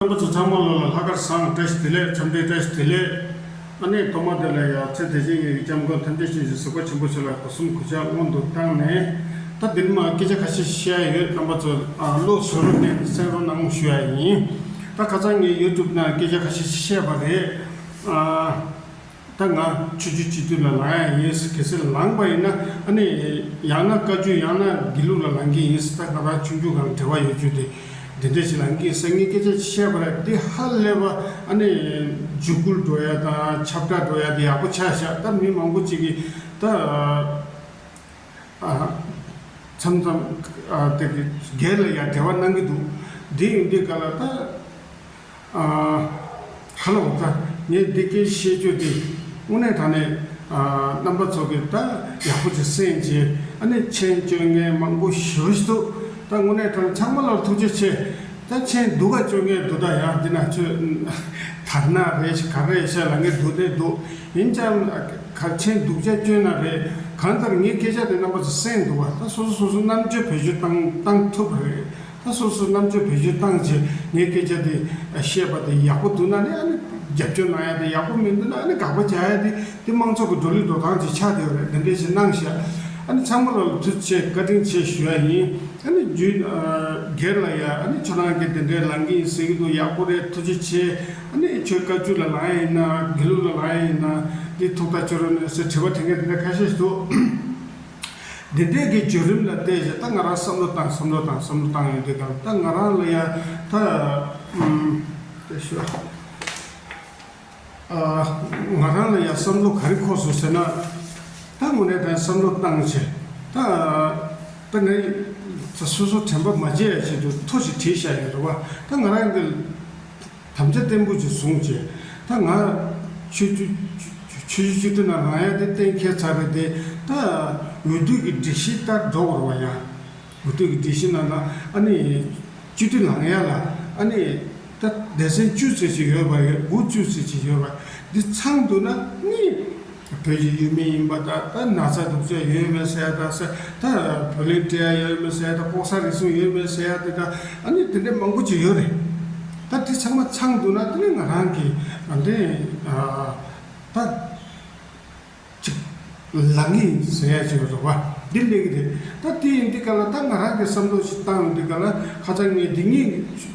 ཨ་ཁུ་ཚ་ཚང་མ་ལོ་ལ་ལྷག་དཀར་བཟང་བཀྲ་ཤིས་བདེ་ལེགས་འཆམ་མཐུན་བཀྲ་ཤིས་བདེ་ལེགས། ཨ་ནེ་གཏོར་མ་འདི་ལ་ཡང་ཚེ་དེ་བཞིན་གཉེན་གྱི་སྐྱབས་མགོན་ཐམས་ཅད་ཆེ་ཞིང་གཟིགས་པ་ཆེན་པོ་ཆེ་ལ་སྒོ་གསུམ་གུས་ཕྱག་སྔོན་དུ་བཏང་ནས་ད་འདི་ནས་མ་སྐད་ཆ་ཁ་ཤས་བཤད་ཡ་ཡོད་རྣམ་པ་ཚོ་བློ་བཟོ་རོགས་གནས་གསན་རོགས་གནང་ཞུ་ཡ་ཡིན། ད་ཁ་སང་ངས YouTube ནང་སྐད་ཆ་ཁ་ཤས་བཤད་པ་རེད། ད་ང་ཆོས་རྒྱུད་སྤྱི་འཐུས་ལ་ལང་ཡ་ཡིན་ཟེར་གལ་སྲིད་ལངས་པ་ཡིན་ན་ཨ་ནི་ཡང་ན་བཀའ་བརྒྱུད་ཡང་ན་དགེ་ལུགས་ལ་ལང་གི་ཡིན་ཟེར་ད་ང་རང་ཆོས་རྒྱུད་གང་འབྲེལ་བ་ཡོད་རྒྱུ་དེ་འདི་འདྲས་ཞིག་ལ་ངས་སང་ངས་སྐད་ཆ་བཤད་པ་ར་འདི་ཧ་ལས་པ་ཨ་ནི་འཇུག་སྐུལ་འགྲོ་ཡ་དང་ཁྱབ་བསྒྲགས་འགྲོ་ཡ་དེ་ཡག་པོ་ཆགས་ཤག་ད་མི་མང་པོ་ཅིག་གིས་ད་མཚམས་མཚམས་དེ་སྒེར་ལ་ཡར་འབྲེལ་བ་གནང་གི་འདུག་འདི་ཡིན་འདི་ག་ལ་ད། ཨ། ཧ་ལ་འོ་ད་ངས་འདི་སྐད་བཤད་རྒྱུ་དེ་དངོས་གནས་ད་ནས་རྣམ་པ་ཚོ་གིས་ད་ཡག་པོ་ཆེ་སེམས་ཀྱི་ཨ་ནི་མཆན་བཅོ་ངས་མང་པོ་ཞུ་རེ་འདུག་ད་དངོས་གནས་ད་ཚང་མ་ལ་ཐུགས་རྗེ་ཆེ་ད་མཆན་བསྡུ་ག་བཅོ་ངས་བསྡུ་ད་ཡག་འདི་ན་ཁྱོད་དར་ནག་རེད་ག་རེད་བཤད་ལ་ངས་བསྡུ་བསྡད་འདུག་ཡིན་ཀྱང་ག་མཆན་བསྡུ་བྱ་སྐྱོན་ན་རེད་གང་ལྟར་ངས་སྐད་ཆ་དེ་རྣམ་པ་ཚོ་གསན་འདུག་བ་ད་སོ་སོ་སོ་སོ་རྣམ་དཔྱོད་བོད་བཞུ་བཏང་ཐུབ་རེད། ད་སོ་སོའི་རྣམ་དཔྱོད་བེད་སྤྱོད་བཏང་རྗེས་ངས་སྐད་ཆ་དེ་བཤད་པ་དེ་ཡག་པོ་འདུག་ན་ནི་ཨ་ནི་རྒྱབ་སྐྱོར་གནང་ཡ་དེ་ཡག་པོ་མི་འདུག་ན་ཨ་ནི་དགག་པ་བྱ་ཡ་དེ་དེ་དམངས་ཚོགས་ཀྱི་འགྲོ་ལུགས་འགྲོ་སྟངས་ཀྱི་ཆ་དེ་རེད་དེ་འདྲའི་ཞིག་གནང་བཞག་ཨ་ནི་ཚང་མ་ལ་ལ་ཐུགས་ཆེ་བཀའ་དྲིན་ཆེ་ཞུ་ཡ་ཡིན་ཨ་ནི་རྒྱུད་སྒེར་ལ་ཡ་ཨ་ནི་ཁྱོད་རང་གི་དེ་འདྲའི་ལང་གི་ཡིན་ཟེར་གྱི་འདུག་ཡག་པོ་རེད་ཐུགས་རྗེ་ཆེ་ཨ་ནི་ཁྱོད་བཀའ་བརྒྱུད་ལ་ལང་ཡ་ཡིན་ན་དགེ་ལུགས་ལ་ལང་ཡ་ཡིན་ན་དེ་ཐུགས་ཐག་ཆོད་རོགས་གནས་སེ་དྲི་བ་དེ་འགའ་དེ་འདྲ་ཁ་ཤས་འདུག། འདི་དུས་ཀྱི་བརྒྱུད་རིམ་ལ་བལྟས་ཀྱི་ད་ང་རང་བསམ་བློ་བཏང་བསམ་བློ་བཏང་བསམ་བློ་བཏང་ཡོད་དུས་དང་ད་ང་རང་ལ་ཡང་ད་ལྟ་ཞོག་ཨ། ང་རང་ལ་ཡང་བསམ་བློ་ག་རེ་འཁོར་སོང་ཟེར་ན། ད་དངོས་གནས་ད་བསམ་བློ་བཏང་ཆེ་ད། ད་ང་ད་སོ་སོ་དྲན་པ་མ་བརྗེད་ཡ་བྱེད་དུས་ཐོ་ཞིག་བྲིས་བཞག་ཡོད་རེད་བ། ད་ང་རང་གི། དམ་བཅའ་བརྟན་པོ་ཞིག་བཟུང་བྱས། ད་ང། ཆོས་རྒྱུད། ཆོས་རྒྱུད་སྤྱི་འཐུས་ནང་རང་ཡང་དེ་གཏན་འཁེལ་ཚར་རེད་དེ། ད། འོས་བསྡུ་གི་སྒྲིག་གཞི་ལྟར་འགྲོ་དགོས་ར་བ་ཡང། འོས་བསྡུ་གི་སྒྲིག་གཞི་ནང་ན་ཨ་ནི། སྤྱི་འཐུས་ལངས་ཡ་ལ་ཨ་ནི། ད་སྡེ་ཚན་བཅུ་ཟེར་ཞིག་ཡོད་པ་ཡོད་དགུ་བཅུ་ཟེར་ཞིག་ཡོད་པ། འདི་ཚང་འདུག་ན་གཉིས། བོད་ཀྱི་ཡུལ་མི་ཡིན་པ་དག་ད་ན་ཚ་དུག་ཚོད་ཡོད་མེད་བསལ་དང་ས་ད་བོད་ལིག་སྤྲད་ཡ་ཡོད་མེད་བསལ་དང་ལྐོག་ས་རིགས་གསུམ་ཡོད་མེད་བསལ་ཡ་དེ་དང་ཨ་ནི་དེ་འདྲས་མང་པོ་ཅིག་ཡོད་རེད། ད་དེ་ཚང་མ་ཚང་འདུག་ན་དེ་ནས་ང་རང་གི་འདི་ད་ཅིག་ལ་ངེས་ཡིན་ཟེར་ཡ་ཅིག་རེད་བ་འདི་ལེགས་རེད་ད་དེ་ཡིན་འདི་ག་ལ་ད་ང་རང་གི་བསམ་བློ་ཞིག་བཏང་འདི་ག་ལ་ཁ་ཚ་ངས་འདི་གཉིས་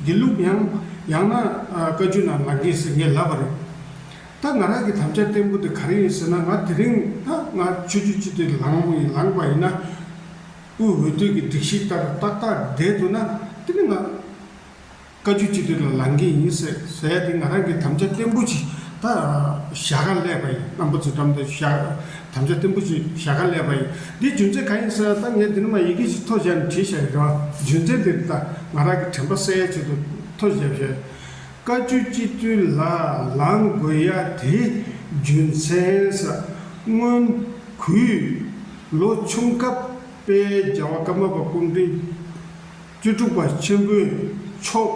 དགེ་ལུགས་ཡང་ཡང་ན་བཀའ་རྒྱུད་ནང་ལ་ངེས་ཟེར་ངས་ལབ་པ་རེད། ད་ང་རང་གི་དམ་བཅའ་བརྟན་པོ་དེ་ག་རེ་ཡིན་ཟེར་ན་ང་དེ་རིང་ད་ང་ཆོས་རྒྱུད་སྤྱི་དེ་ལངས་མོ་ཡིན་ལངས་པ་ཡིན་ན་དབུས་འོས་བསྡུ་གི་སྒྲིག་གཞི་ལྟར་ཏག་ཏག་བསྡད་འདུག་ན་དེ་ནི་ང་བཀའ་རྒྱུད་སྤྱི་དེ་ལ་ལངས་གི་ཡིན་ཟེར་ཟེར་ཡ་དེ་ང་རང་གི་དམ་བཅའ་བརྟན་པོ་ཞིག་ད་བཞག་ག་ལས་པ་ཡིན་རྣམ་པ་ཚོའི་འགྲམ་དུ་བཞག་དམ་བཅའ་བརྟན་པོ་ཞིག་བཞག་ག་ལས་པ་ཡིན་དེའི་རྒྱུ་མཚན་ག་ཡིན་ཟེར་ན་ད་ངས་འདི་ནས་མ་ཡི་གེ་ཞིག་ཐོ་བཞག་ནས་བྲིས་བཞག་ཡོད་རེད་བ་རྒྱུ་མཚན་དེ་ནི་ད་ང་རང་གི་དྲན་པ་གསལ་ཡས་ཆེད་དུ་ཐོ་བཞག་བཞག་བཀའ་བཅུ་སྤྱི་བརྟོལ་ལ་ལངས་དགོས་ཡ་དེ་རྒྱུ་མཚན་ས་སྔོན། གུས། ལོ་ཆུང་སྐབས་དཔལ་རྒྱལ་བ་ཀརྨ་པ་སྐུ་མགྲོན། བཅུ་དྲུག་པ་ཆེན་པོའི་མཆོག།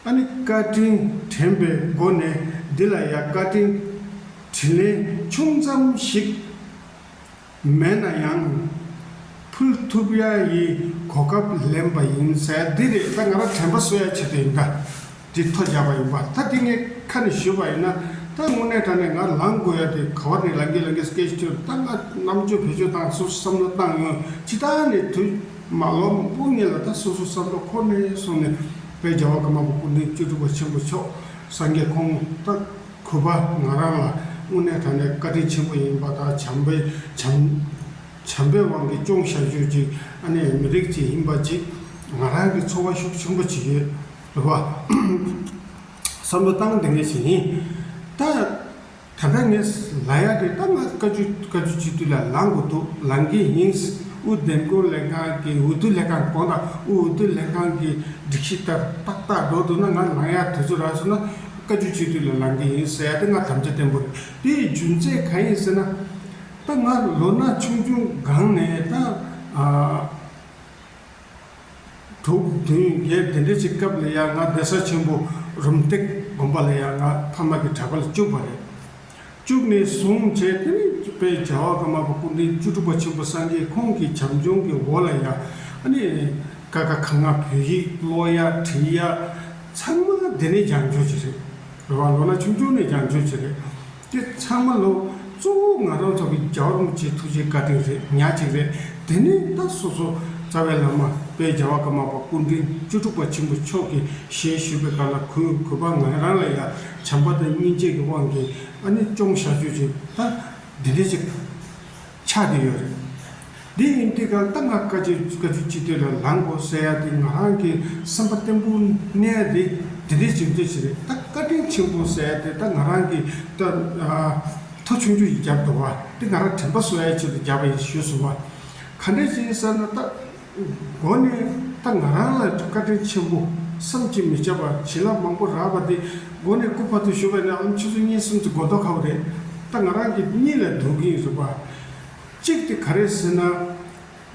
ཨ་ནི་བཀའ་དྲིན་དྲན་པའི་སྒོ་ནས་འདི་ལ་ཡ་བཀའ་དྲིན་དྲིན་ལན་ཆུང་ཙམ་ཞིག། མེད་ན་ཡང། ཕུལ་ཐུབ་ཡ་ཡི་གོ་སྐབས་ལེན་པ་ཡིན། འདི་རེད་ད་ང་རང་དྲན་པ་གསོལ་ཡ་བྱེད་དུ་ཡིན་ད། འདི་ཐོ་རྒྱག་པ་ཡིན་པ་ད་འདི་ངས་ཁ་ནས་ཞུས་པ་ཡིན་ན་ད་དངོས་གནས་དྲ་ནས་ང་ལངས་དགོས་ཡ་དེ་ག་བ་ནས་ལངས་གིན་ལངས་གིན་སྐད་ཅིག་ཆོད་ད་ང་རྣམ་དཔྱོད་བེད་སྤྱོད་བཏང་སོ་སོ་བསམ་བློ་བཏང་ཡོང་སྤྱི་ད་ནས་དུས་མ་ལོ་མང་པོ་ངེས་ལ་ད་སོ་སོ་བསམ་བློ་ཁོ་ནས་སོང་ནས་དཔལ་རྒྱལ་བ་ཀརྨ་པ་སྐུ་མདུན་བཅུ་དྲུག་པ་ཆེན་པོ་མཆོག་སངས་རྒྱས་ཁོང་ད་གུས་པ་ང་རང་ལ་དངོས་གནས་ད་ནས་བཀའ་དྲིན་ཆེན་པོ་ཡིན་པ་དང་བྱམས་པའི་བྱམས་པའི་དབང་གིས་སྐྱོང་ཤག་ཆོས་ཀྱི་ཨ་ནེ་མི་རིགས་ཀྱི་ཧིན་པ་གཅིག་ང་རང་གིས་འཚོ་བ་ཤུགས་ཆེན་པོ་བྱེད་ཀྱི་ཡོད་པ་བསམ་བློ་གཏང་དེ་ངེས་ཞིག་ཡིན། ད་ད་ལྟ་ངས་ལ་ཡག་གི་ད་ང་བཀའ་བརྒྱུད་བཀའ་བརྒྱུད་སྤྱི་འཐུས་ལ་ལང་དགོས་འདུག་ལང་གི་ཡིན། དབུས་བདེ་འགོད་ལས་ཁང་གི་འོས་བསྡུ་ལས་ཁང་གང་དང་དབུས་འོས་བསྡུ་ལས་ཁང་གི་སྒྲིག་གཞི་ལྟར་ཏག་ཏག་འགྲོ་འདུག་ན་ང་ལང་ཡག་དུས་ཚོད་རག་སོང་ན། བཀའ་བརྒྱུད་སྤྱི་འཐུས་ལ་ལངས་ཀྱི་ཡིན་ཟེར་ཡ་དེ་སྔ་དམ་བཅའ་བརྟན་པོ་རེད་དེ་ཡི་རྒྱུ་མཚན་གང་ཡིན་ཟེར་ན། ད་ང་ལོ་ན་ཆུང་ཆུང་སྒང་ནས་ད། དྲུག་བདུན་བརྒྱད་དེ་འདྲའི་ཆེ་སྐབས་ལ་ཡང་ང་གདན་ས་ཆེན་པོ་རུམ་སྟེགས་དགོན་པ་ལ་ཡང་ང་ཕ་མ་གི་གྲྭ་པ་ལ་བཅུག་པ་རེད། བཅུག་ནས་བཟུང་བྱས་ཏེ་ནི་པའི་བྱ་བ་ཀ་མ་པ་སྐུ་མདུན་བཅུ་དྲུག་པ་ཆེན་པོ་སངས་རྒྱས་ཁོང་གི་བྱམས་སྐྱོང་གི་འོག་ལ་ཡང་ནི་ཀ་ཁ་ག་ང་བོད་ཡིག་ཀློག་ཡ་བྲིས་ཡ་ཚང་མ་འདི་ནས་སྦྱངས་བརྗོད་བྱེད་རེད་རེད་བ་ལོ་ན་ཆུང་ཆུང་ནས་སྦྱངས་བརྗོད་བྱེད་རེད་དེ་ཚང་མ་ལོ་གཙོ་བོ་ང་རང་ཚོ་གི་རྒྱ་བོར་མི་ཆེ་ཐུགས་རྗེ་བཀའ་དྲིན་རེད་ཉག་ཅིག་རེད་དེ་ནས་ད་སོ་སོ་རྩ་བའི་བླ་མ་པའི་བྱ་བ་ཀ་མ་པ་སྐུ་མདུན་བཅུ་དྲུག་པ་ཆེན་པོ་མཆོག་གིས་ཞེས་ཞུས་པའི་བཀའ་ལ་གུས་གུས་པ་ང་རང་ལ་ཡང། བྱམས་པ་དང་སྙིང་རྗེ་གི་དབང་གིས་ཨ་ནི་ཅུང་བཤགས་བཅོས་བྱེད་ད། འདི་འདྲས་ཅིག་དང། ཆགས་ཀྱི་ཡོད་རེད། དེ་ཡིན་དུས་གང་ལྟར་ང་བཀའ་བརྒྱུད་སྤྱི་འཐུས་ལ་ལངས་དགོས་ཟེར་ཡ་དེ་ང་རང་གི་སེམས་པ་བརྟན་པོ་གནས་དེ་འདི་འདྲས་ཅིག་འདྲས་ཅིག་རེད་ད་བཀའ་དྲིན་ཆེན་པོ་ཟེར་ཡ་དེ་ད་ང་རང་གི་ད། ཐོ་ཆུང་ཆུང་ཞིག་བརྒྱབ་འདུག་བ་དེ་ང་རང་དྲན་པ་གསོ་ཡ་ཆེད་དུ་བརྒྱབ་པ་ཡིན་ཞུས་སོང་བ། ག་འདྲས་ཅིག་ཡིན་ཟེར་ན་ད། སྒོ་ནས་ད་ང་རང་ལ་བཀའ་དྲིན་ཆེན་པོ་བསམ་གྱིས་མི་ཁྱབ་པ་བྱིན་རླབས་མང་པོ་རགས་པ་འདི་སྒོ་ནས་སྐུ་ཕ་ཐུག་ཞུ་བས་ན་ཨང་ཕྱི་ཚོ་གཉིས་གསུམ་གྱི་དགོ་ཐོ་ཁ་བ་རེད་ད་ང་རང་གི་གཉིད་ལས་དུང་གིན་རེད་པ། གཅིག་དེ་ག་རེད་ཟེར་ན།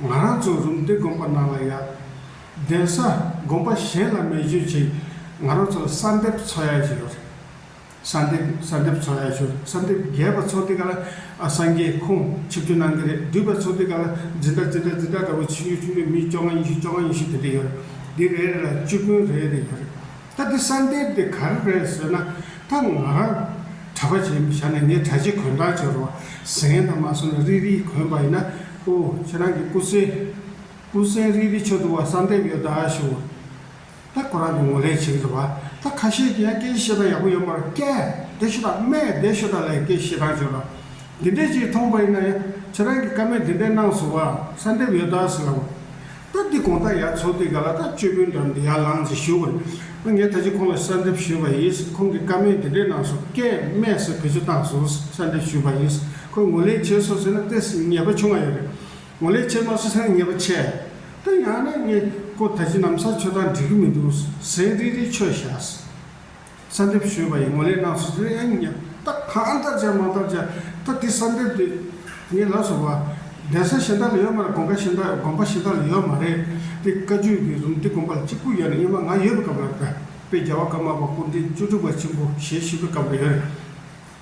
ང་རང་ཚོ་རུམ་བདེ་དགོན་པ་ནང་ལ་ཡ། གདན་ས་དགོན་པ་གཞན་ལ་མེད་བརྗོད་ཅིག་ང་རང་ཚོ་ལ་གསར་འདེབས་འཚོ་ཡ་བཞིན་རེད། ས་འདེབས་ས་འདེབས་ཚོགས་ཡག་ཞུ་ས་འདེབས་རྒྱས་པ་ཚོགས་དེ་ག་ལ་སངས་རྒྱས་ཁོང་ཆིབས་བསྒྱུར་གནང་གི་རེད་བསྡུས་པ་ཚོགས་དེ་ག་ལ་འཛིན་གྲྭ་འཛིན་གྲྭ་འཛིན་གྲྭ་འདྲ་བོ་ཆིབས་བསྒྱུར་ཆིབས་བསྒྱུར་མི་བཅོ་ལྔ་ཉི་ཤུ་བཅོ་ལྔ་ཉི་ཤུ་དེ་འདྲ་ཡོད་རེད་འདི་རེ་རེ་ལ་བཅུ་དཔོན་རེ་རེ་ཡོད་རེད་ད་འདི་ས་འདེབས་དེ་ག་རེ་རེད་ཟེར་ན་ད་ང་རང་གྲྭ་པ་བྱས་ཞག་ནས་ངས་གྲྭ་ཆས་གོན་གྲངས་བྱས་རོགས་གཟན་དང་མ་སོ་ན་རིལ་རིལ་གོན་པ་ཡིན་ན་ཨོ་ཁྱེད་རང་གི་སྐུ་གཟན་སྐུ་གཟན་རིལ་རིལ་ཆོ་འདུ་བ་ས་འདེབས་ཡོད་ད་ཞུ། ད་ཁོ་རང་གི་ངོ་ལེན་བྱེད་ཀྱི་འདུག་བ་ད་ཁ་ཤས་ཀྱིས་ཡང་སྐད་ཆ་བཤད་སྟངས་ཡག་པོ་ཡོད་མ་རེད་སྐད་བདེ་ཤོ་དང་སྨད་བདེ་ཤོ་དང་ལ་ཡི་སྐད་བཤད་སྟངས་བྱོས་དང། འདི་འདྲའི་ཅིག་མཐོང་པ་ཡིན་ན་ཡང་ཁྱེད་རང་གིས་ཀ་མེད་འདི་འདྲའི་གནང་སོང་བ་ས་འདེབས་ཡོད་ད་ཟེར་ལབ་བ། ད་འདི་གོང་ད་ཡར་ཚོགས་འདི་ག་ལ་ད་བཅོས་བུན་འདྲ་འདི་ཡར་ལངས་ཟེར་ཞུས་བ་རེད། ངས་ད་ཅིག་ཁོང་ལ་ས་འདེབས་ཞུས་པ་ཡིན་ཁོང་གིས་ཀ་མེད་འདི་འདྲའི་གནང་སོང་སྐད་སྨད་སོགས་བེད་སྤྱོད་བཏང་སོང་ས་འདེབས་ཞུས་པ་ཡིན་ཁོས་ངོ་ལེན་བྱས་སོང་ཟེར་ན་ལྟས་ངེས་པ་བྱུང་བ་ཡོད་རེད། ངོ་ལས་ཆེས་དམའ་སོ་སེང་ངེ་པ་ཆེ། ད་ཡང་ནས་ངས་ཀོ་ད་ཅི་ནམ་ས་ཆོས་དང་འབྲེལ་གི་མི་འདུག་སེང་རིག་རིག་ཆོས་བཞགས། ས་འདེབས་ཞུས་པ་ཡིས་ངོ་ལས་གནང་སོ་སེང་ངེ་ད་གང་ལྟར་བྱས་མང་ལྟར་བྱས་ད་འདི་ས་འདེབས་དུས་ངས་ལབ་སོང་བ། གདན་ས་གཞན་དག་ལ་ཡོད་མ་རེད་དགོན་པ་གཞན་དག་དགོན་པ་གཞན་དག་ལ་ཡོད་མ་རེད་དེ་བཀའ་བརྒྱུད་ཀྱི་རུམ་དེ་དགོན་པ་ལ་གཅིག་པུ་ཡོད་ནས་སྙེ་མ་ང་ཡོད་པའི་སྐབས་ལ་བོད་པའི་རྒྱལ་བ་ཀརྨ་པ་སྐུ་འདྲེན་བཅུ་དྲུག་པ་ཆེན་པོ་ཞེས་ཞུས་པའི་སྐབས་ལ་ཡོད་རེད།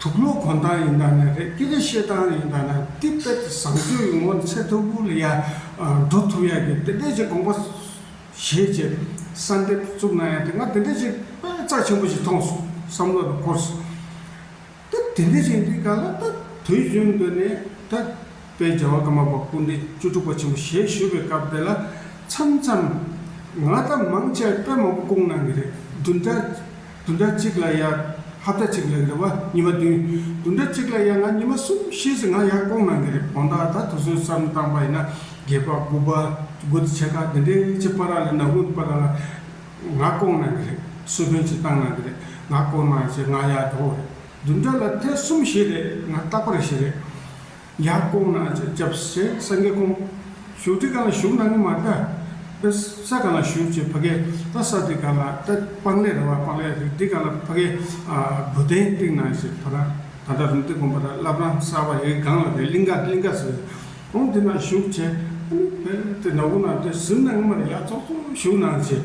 དུག་ལོག་གོང་ཐང་ཡིན་ད་ནས་རེད་ཀི་ལི་ཤེས་ཐང་ཡིན་ད་ནས་ཏི་པེ་ཏི་བཟང་སྤྱོད་ཡོང་ངོ་ཚེ་ཐུ་བུ་ལི་ཡ་འགྲོ་ཐུབ་ཡག་གི་དེ་འདྲས་ཀྱི་དགོངས་པ་བཞེས་ཀྱི་གསར་འདེབས་བཙུགས་ན་ཡག་དེ་ང་དེ་འདྲས་ཀྱི་དཔེ་རྩ་ཆེན་པོ་ཞིག་མཐོང་སོང་བསམ་བློ་ལ་འཁོར་སོང་ད་དེ་འདྲས་ཀྱི་འདི་ག་ལ་ད་དུས་རྒྱུན་དུ་ནས་ད་དཔེ་རྒྱལ་བ་ཀརྨ་པ་སྐུ་འདྲས་བཅུ་དྲུག་པ་ཆེན་པོ་བཞེས་བཞུད་པའི་སྐབས་དེ་ལ་མཚམས་མཚམས་ང་ད་མང་ཆེ་བས་དཔེ་མང་པོ་བསྐུངས་གནང་གི་རེད་བདུན་ཕྲག་དུ་འདྲ་གཅིག་ལ་ཡང་ཧབ་སྒྲ་གཅིག་ལས་འདྲ་བ་ཉི་མ་བདུན། དུ་འདྲ་གཅིག་ལ་ཡང་ང་ཉི་མ་གསུམ་ཤེས་སུ་ང་ཡང་སྐོང་ན་འདི་རེད་བོང་སྟག་ད་དུ་སོས་སམ་བཏང་པ་ཡིན་ན་རྒྱལ་པ་དགུ་པ་དགུ་ཚེ་ཆེ་ཁག་འདི་འདྲའི་ལྕི་པ་ར་ལ་ནག་འུན་པ་ར་ལ་ང་སྐོང་ན་འདི་རེད་སོས་བོན་གཅིག་བཏང་ན་འདི་རེད་ང་སྐོང་ན་ཞེས་ང་ཡང་འགྲོ་བ་རེད་དུ་འདྲ་ལ་ཐེ་གསུམ་ཞེས་རེད་ང་རྟག་པ་རེད་ཞེས་རེད། ཡང་སྐོང་ན་ཅི་བྱབས་ཞེས་སངས་རྒྱས་སྐོང། བཞུགས་ཁྲི་གང་ལ་བཞུགས་གནང་གི་མ་ལྟ། དཔེ་ས་གང་ལ་བཞུགས་ཅེས་བྷ་གའི་རྟ་ས་དེ་གང་ལ་རྟ་སྤང་ལས་ར་བ་སྤང་ལས་རི་དེ་གང་ལ་བྷ་གའི་བུ་སྟན་བཏིང་ན་ཞེས་བྷ་ར་ད་ལྟ་རུང་སྟེ་སྒོམ་པ་ལ་བསླབ་རང་གསར་བ་ཡི་སྒང་ལ་དེ་ལིངྒ་གླིང་ག་ཟེར། ཨོང་དེ་ན་བཞུགས་བྱས། ཨ་ནི་བྷ་དེ་ན་བུ་ན་དེ་གཟིམས་གནང་གི་མ་ལ་ཡར་ཙོག་ཙོག་བཞུགས་གནང་ཞེས།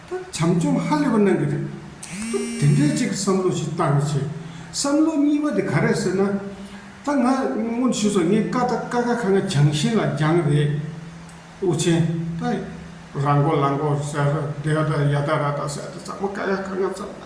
ད་བྱམས་སྐྱོང་ཧ་ལས་པ་གནང་གི་རེད་ད། དེ་འདྲའི་གཅིག་གི་བསམ་བློ་ཞིག་བཏང་ཡོད་ཚེ། བསམ་བློ་གཉིས་པ་དེ་ག་རེད་ཟེར་ན། ད་ང་སྔོན་ཞུས་སོང་ངས་ཀ་ད་ཀ་ཁ་ཁ་ང་བྱང་ཤིང་ལ་རྒྱང་རེད། དབུ་ཆེན་ད་ར་མགོ་ལ་མགོ་ཟེར་ད་ཡ་ད་ཡ་ད་ར་ད་ཟེར་ད་ཙག་མ་ཀ་ཡ་ཀ་ང་ཙག་ན།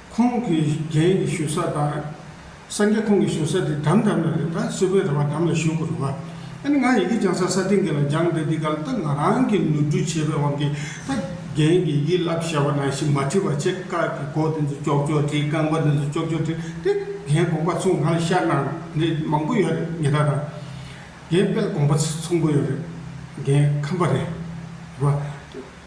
ཁོང་གི་རྒྱན་གྱི་བཞུགས་ས་དང། སངས་རྒྱས་ཁོང་གི་བཞུགས་ས་དེ་འགྲམ་འགྲམ་ན་རེད་ད་སེ་བོད་ར་བ་འགྲམ་ལ་བཞུགས་དགོས་རུང་ང་ནི་ང་ཡི་གེ་སྦྱང་ས་ས་སྟེང་གི་ལ་སྦྱང་འདི་འདི་ག་ལ་ད་ང་རང་གི་ནོར་འཁྲུལ་བྱས་པའི་དབང་གིས་ད་རྒྱན་གྱི་དབྱི་བསླབ་བྱ་བ་ནང་བཞིན་མ་བྲིས་པར་ཆེ་དཀའ་གི་སྒོ་དེ་ཚོ་ཅོག་ཅོག་བྲིས་རྐང་པ་དེ་ཚོ་ཅོག་ཅོག་བྲིས་ཏེ་རྒྱན་དགོངས་པ་ཚུགས་ང་ལ་ཤར་ནང་ནས་མང་པོ་ཡོད་རེད་ཉི་ཟླ་དང། རྒྱན་དཔལ་དགོངས་པ་ཚུགས་པོ་ཡོད་རེད་རྒྱན་ཁམས་པ་རེད་རེད་བ།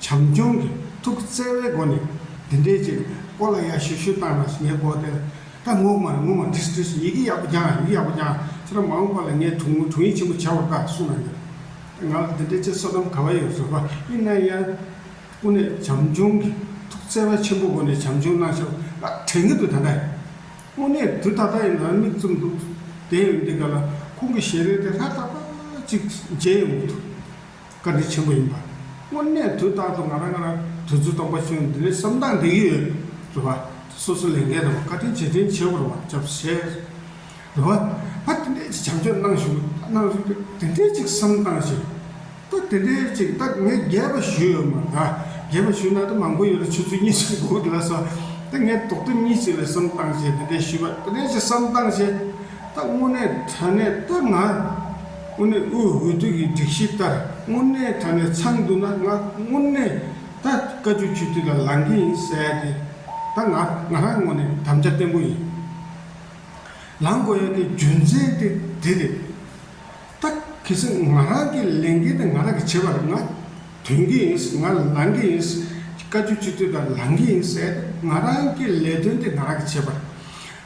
བྱམས་སྐྱོང་གི་ཐུགས་བརྩེ་བའི་སྒོ་ནས་འདི་འདྲའི་ཅིག་ཨོ་ལ་ཡ་ཤུ་ཤུ་བཏང་ན་ངས་དགོད་དེ་ད་ངུ་མ་ངུ་མ་དྲིས་དྲིས་ཡི་གེ་ཡག་པོ་སྦྱངས་ཡི་གེ་ཡག་པོ་སྦྱངས་ཁྱེད་རང་མ་འོངས་པ་ལ་ངས་དྲུང་ངུ་དྲུང་ཡིག་ཆེན་པོ་བྱ་བར་དཀའ་གསུངས་ན་འདོད་ད་ང་ལ་འདི་འདྲའི་ཅིག་བསོད་ནམས་ག་བ་ཡོད་བཟོད་པ་ཨི་ན་ཡ། ཀུན་ནས་བྱམས་སྐྱོང་གི་ཐུགས་བརྩེ་བ་ཆེན་པོ་སྒོ་ནས་བྱམས་སྐྱོང་གནང་ཤོག་ཨ་དྲན་གི་དུས་ད་ལྟ་ཡིན་དངོས་གནས་དུས་ད་ལྟ་ཡིན་ང་མིག་བཙུམ་འདུག་དེ་ཡང་འདི་ག་ལ་ཁོང་གི་ཞལ་རས་དེ་ལྷ་ད་ལྟ་ཅིག་མཇལ་ཡོང་གི་འདུག། བཀའ་དྲིན་ཆེན་པོ་ཡིན་པ། དངོས་གནས་དུས་རྟག་ཏུ་ང་རང་ང་རང་དུས་ཚོད་སྟོང་པ་ཆུང་འདི་ལས་སུམ་རྟགས་འདི་ཡོད་རེད་བ། སོ་སོ་ལས་འགན་རེད་བ་བཀའ་དྲིན་རྗེས་དྲིན་ཆེ་བོར་བ་བཅབས་བཞེས་རེད་བ། ད་དེ་འདྲའི་ཅིག་བྱམས་ཆོས་གནང་ཞུ་གནང་རེ་བ་དེ་འདྲའི་ཅིག་བསམ་བཏང་ཞིག་ད་དེ་འདྲའི་ཅིག་ད་ངས་རྒྱས་པ་ཞུས་ཡོད་མ་རེད་རྒྱས་པ་ཞུས་ན་ད་མང་པོ་ཡོད་རེད་ཆུ་ཚོད་གཉིས་གཅིག་འགོར་ལ་སོ་ད་ངས་དོག་ཐུན་གཉིས་གཅིག་ལ་བསམ་བཏང་ཞེས་དེ་འདྲའི་ཞུས་བ་དེ་འདྲའི་ཅིག་བསམ་བཏང་ཞེས་ད་དངོས་གནས་དྲན་ནས་ད་ང། དངོས་གནས་དབུས་འོས་བསྡུ་ཡི་སྒྲིག་གཞི་ལྟར་དངོས་གནས་དྲ་གནས་ཚང་འདུག་ན་ང་དངོས་གནས་ད་བཀའ་བཅུ་ཆུ་ཐིག་ལ་ལང་གི་ཡིན་གསལ་ཏེ་ད་ང་ང་རང་ངོ་ནས་དམ་བཅའ་བརྟན་པོ་ཡིན་ལང་དགོས་ཡ་གི་རྒྱུ་མཚན་དེ་འདི་རེད་ད་གལ་སྲིད་ང་རང་གི་ལས་འགན་དེ་ང་རང་གི་བྱེད་པར་ང་དོན་གི་ཡིན་ང་ལང་གི་ཡིན་བཀའ་བཅུ་ཆུ་ཐིག་ལ་ལང་གི་ཡིན་གསལ་ཏེ་ང་རང་གི་ལས་དོན་དེ་ང་རང་གི་བྱེད་པར།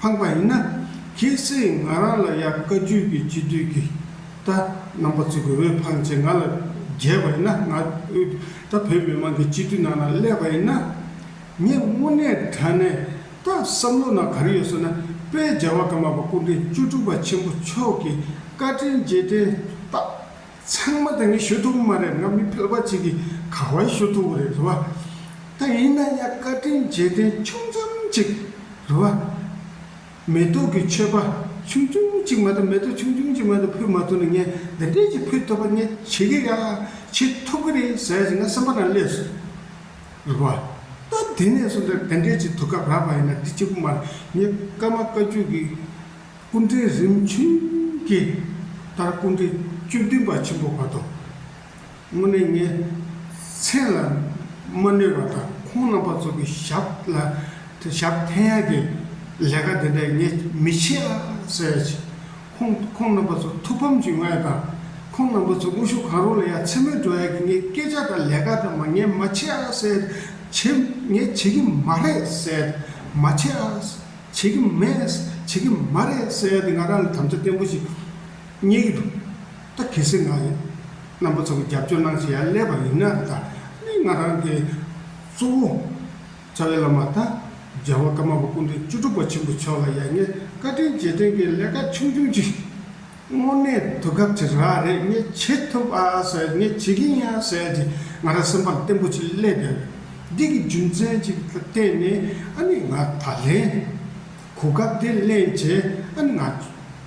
འཕངས་པ་ཡིན་ན། ཁྱེད་ཚོས་ང་རང་ལ་ཡར་བཀའ་བརྒྱུད་ཀྱི་སྤྱི་འཐུས་ཀྱི་ད་རྣམ་པ་བརྩི་དགོས་འོས་འཕངས་ཚེ་ང་ལ་རྒྱས་པ་ཡིན་ན་ང་ད་བོད་མི་མང་གི་སྤྱི་འཐུས་ནང་ན་སླེབས་པ་ཡིན་ན། ངས་དངོས་གནས་དྲན་ནས་ད་བསམ་བློ་ན་ག་རེ་ཡོད་ཟེར་ན་དཔལ་རྒྱལ་བ་ཀརྨ་པ་སྐུ་འཕྲེང་བཅུ་དྲུག་པ་ཆེན་པོ་མཆོག་གི་བཀའ་དྲིན་རྗེས་དྲན་རྟགས། ཚང་མ་དེ་ནི་ཞུ་ཐུབ་མ་རེད་ང་མི་ཕལ་པ་ཅིག་གིས་ག་བར་ཞུ་ཐུབ་པ་རེད་རེད་བ། ད་ཡིན་ན་ཡང་བཀའ་དྲིན་རྗེས་དྲན་ཆུང་ཙམ་ཅིག་རེད་བ། མེ་ཏོག་གི་མཆོད་པ་ཆུང་ཆུང་ཅིག་མ་གཏོགས་མེ་ཏོག་ཆུང་ཆུང་ཅིག་མ་གཏོགས་ཕུལ་མ་ཐུབ་ན་ངས་འདི་འདྲས་ཅིག་ཕུལ་ཐུབ་པ་ངས་བྱེད་ཀྱི་ཡ་བྱེད་ཐུབ་ཀྱི་རེད་ཟེར་བཞིན་ང་སེམས་པ་ན་སླེབས་སོང། རེད་བ། ད་དེ་ནས་བཟུང་འདི་འདྲས་ཅིག་ཐུག་སྐབས་རག་པ་ཡིན་ན་འདི་གཅིག་པུ་མ་རེད་ངས་ཀརྨ་བཀའ་བརྒྱུད་ཀྱི། སྐུ་འཕྲེང་རིམ་བྱོན་གྱི་ལྟར་སྐུ་འཕྲེང་བཅུ་བདུན་པ་ཆེན་པོ་བར་དོ། དངོས་གནས་ངའི་མཚན་ལ་མ་གནོད་པ་དང་ཁོང་རྣམ་པ་ཚོ་གི་ཞབས་ལ་ཞབས་འཐེན་ཡ་གི་ལས་ཀ་དེ་འདྲ་ངས་མི་བྱེད་ཨ་ཟེར་ཡ་བྱེད། ཁོང་ཁོང་རྣམ་པ་ཚོ་ཐུགས་ཕམ་གྱི་ང་ཡ་དང་ཁོང་རྣམ་པ་ཚོ་དངོས་ཤུགས་གང་རུང་ལ་ཡ་མཚན་མོ་འགྲོ་ཡ་གི་ངའི་སྐད་ཆ་དང་ལས་ཀ་དེ་མ་ངས་མ་བྱེད་ཨ་ཟེར། བྱེད་ངས་བྱེད་གི་མ་རེད་ཟེར་མ་བྱེད་ཨ། བྱེད་ཀྱི་མེད། བྱེད་ཀྱི་མ་རེད་ཟེར་ཡ་དེ་ང་རང་ལ་དམ་བཅའ་བརྟན་པོ་ཞིག་རྙེད་ཀྱི་འདུག་ད་གལ་སྲིད་ང་རྣམ་པ་ཚོ་གི་རྒྱབ་སྐྱོར་གནང་བཞིན་ཡར་སླེབས་པ་ཡིན་ན་ད་ནི་ང་རང་གི་གཙོ་བོ་རྩ་བའི་བླ་མ་དང་རྒྱལ་བ་ཀརྨ་པ་སྐུ་མདུན་བཅུ་དྲུག་པ་ཆེན་པོ་མཆོག་ལ་ཡར་ངས་བཀའ་དྲིན་རྗེས་དྲན་གྱི་ལས་ཀ་ཆུང་ཆུང་ཅིག། དངོས་གནས་དུས་སྐབས་ཀྱི་ར་རེ་ངས་བྱེད་ཐུབ་ཨ་ཟེར་ངས་བྱེད་ཀྱིན་ཡ་ཟེར་གྱིས་ང་རང་སེམས་པ་བརྟན་པོ་ཅིག་སླེབས་ཡོད། འདི་གི་རྒྱུ་མཚན་གཅིག་ལ་བརྟེན་ནས་ཨ་ནི་ང་ད་ལན་གོ་སྐབས་དེ་གླེང་རྗེས་ཨ་ནི་ང་ཁྱོད་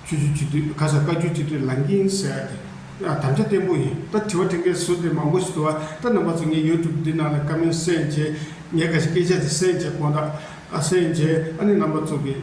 ཚོའི་སྤྱི་འཐུས་ག་ས་བཀའ་བརྒྱུད་སྤྱི་འཐུས་ལངས་ཀྱིན་ཟེར་ཏེ་ཨ་དམ་བཅའ་བརྟན་པོ་ཡིན་ད་དྲི་བ་དྲི་མཁན་ཟུར་དེ་མང་པོ་ཞིག་འདུག་ཨ་ད་རྣམ་པ་ཚོ་ངས YouTube འདི་ནང་ལ་བཀའ་མོལ་གསན་རྗེས་ངས་ག་ཞིག་སྐད་ཆ་དེ་གསན་རྗེས་དགོངས་དག་གསན་རྗེས་ཨ་ནི་རྣམ་པ་ཚོ་གིས།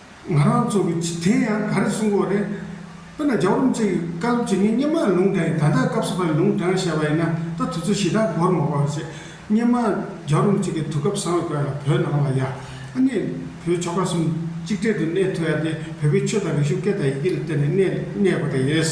ང་རང་ཚོ་གི་ཕྱི་དེ་ཡང་ག་རེ་གསུང་གོ་རེད། དཔེར་ན་རྒྱ་རོམ་ཚེ་གི་བཀའ་སློབ་ཇི་སྙེད་སྙེ་མ་ལུང་དྲངས་ད་ལྟ་སྐབས་སུ་བ་ལུང་དྲངས་བཤད་པ་ཡིན་ན་ད་དུས་ཚོད་ཞེ་དྲག་འགོར་མ་པ་བྱས་སྙེ་མ་རྒྱ་རོམ་ཚེ་གི་དུས་སྐབས་བཟང་བའི་སྐོར་ལ་བོད་ནང་ལ་ཡ་ཨ་ནེ་བོད་ཆོ་ག་གསུམ་གཅིག་འབྲེལ་དུ་གནས་ཐུ་ཡ་དེ་བོད་པའི་ཆོས་དང་རིག་གཞུང་སྐད་དང་ཡི་གེ་ལ་བརྟེན་ནས་གནས་གནས་དགོས་ད་ཡེས།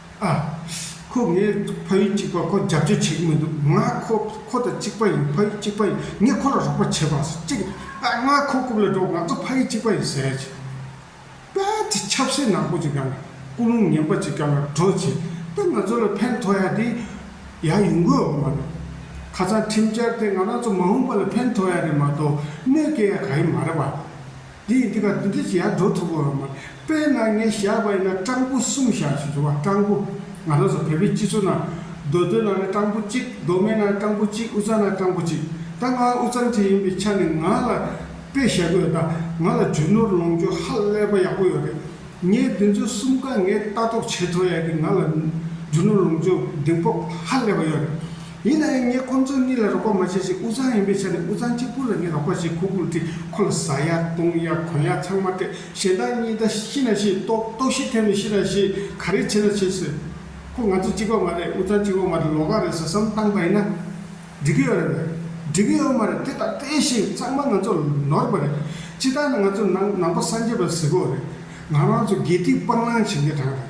ཨ། ཁོས་ངའི་ཕ་ཡུལ་གཅིག་པར་ཁོ་རྒྱབ་སྐྱོར་བྱེད་ཀྱི་མི་འདུག་ང་ཁོ་ཁོ་དང་གཅིག་པ་ཡིན་ཕ་ཡུལ་གཅིག་པ་ཡིན་ངས་ཁོ་ལ་རོགས་པ་བྱེད་པ་གཅིག་ཨ་ང་ཁོ་རྐུབ་ལ་འགྲོ་ང་ཚོ་ཕ་ཡུལ་གཅིག་པ་ཡིན་ཟེར་ཅིག་དཔལ་གྱི་ཆབ་སྲིད་ནག་པོ་ཅིག་གམ་ཀུན་སློང་ངན་པ་ཅིག་གམ་ལ་འགྲོ་ཅིག་དཔལ་ང་ཚོ་ལ་ཕན་ཐོགས་ཡག་དེ་ཡག་ཡོང་གི་འོག་མ་རེད། ཁ་ཚང་ཁྲིམས་འཆར་དེ་ང་རང་ཚོ་མ་འོངས་པ་ལ་ཕན་ཐོགས་ཡག་རེད་མ་གཏོགས་གནོད་སྐྱེལ་ཡག་ག་ཡི་མ་རེད་པ། དེ་ཡིན་དེ་ཁ་བདུན་ཁྲི་ཡར་འགྲོ་ཐུབ་པོ་རང་མ་རེད་དཔེར་ན་ངས་བཞག་པ་ཡིན་ན་སྤྲང་པོ་གསུམ་བཞག་ཞེས་བྱུང་བ་སྤྲང་པོ་ང་རང་ཚོ་བལ་བོའི་སྤྱི་ཚོགས་ནང་རྡོ་རྡོའི་ནང་ན་སྤྲང་པོ་གཅིག་རྡོ་སྨན་ནང་ན་སྤྲང་པོ་གཅིག་དབུ་གཙང་ན་སྤྲང་པོ་གཅིག་ད་ང་དབུ་གཙང་གཅིག་ཡིན་པའི་ཆ་ནས་ང་ལ་དཔེ་བཞག་གི་ཡོད་ད་ང་ལ་རྒྱུ་ནོར་ལོངས་སྤྱོད་ཧ་ལས་པ་ཡག་པོ་ཡོད་རེད་ངའི་བདུན་ཚོ་གསུམ་ཀ་ངས་ལྟ་རྟོག་བྱས་ཐོག་ཡག་གི་ང་ལ་རྒྱུ་ནོར་ལོངས་སྤྱོད་གདེང་སྤོབས་ཧ་ལས་པ་ཡོད་རེད། ཡིན་ན་ཡང་ངས་ཁོ་ཚོ་གཉིས་ལ་རོགས་པ་མ་བྱས་ཤིང་དབུ་གཙང་ཡིན་པའི་ཆ་ནས་དབུ་གཙང་གཅིག་པུ་ལ་ངས་རོགས་པ་བྱེད་ཁུག་ཁུག་བྲིས་ཁོ་ལ་བཟའ་ཡག་བཏུང་ཡག་གོན་ཡག་ཚང་མ་སྤྲད་གཞན་དག་གཉིས་ད་ཤི་ན་ཤི་ལྟོགས་ལྟོགས་ཤི་ཐེབས་ན་ཤི་ར་ཤི་ག་རེ་བྱེད་ན་བྱེད་ཟེར། ཁོ་ང་ཚོ་གཅིག་པ་མ་རེད་དབུ་གཙང་གཅིག་པ་མ་རེད་ལོག་ཁ་རེད་ཟེར་བསམ་བཏང་པ་ཡིན་ན། འགྲིག་གི་ཡོད་རེད་མོད། འགྲིག་གི་ཡོད་མ་རེད་དེ་དག་སྤྲད་བཞིན་ཚང་མ་ང་ཚོ་ནོར་བ་རེད། སྤྱི་བཏང་ན་ང་ཚོ་ནང་ནང་པ་སངས་རྒྱས་པ་གཟིགས་གོ་རེད། ང་རང་ཚོ་དགེ་སྡིག་སྤང་བླང་བྱེད་མཁན་གྲངས་རེད།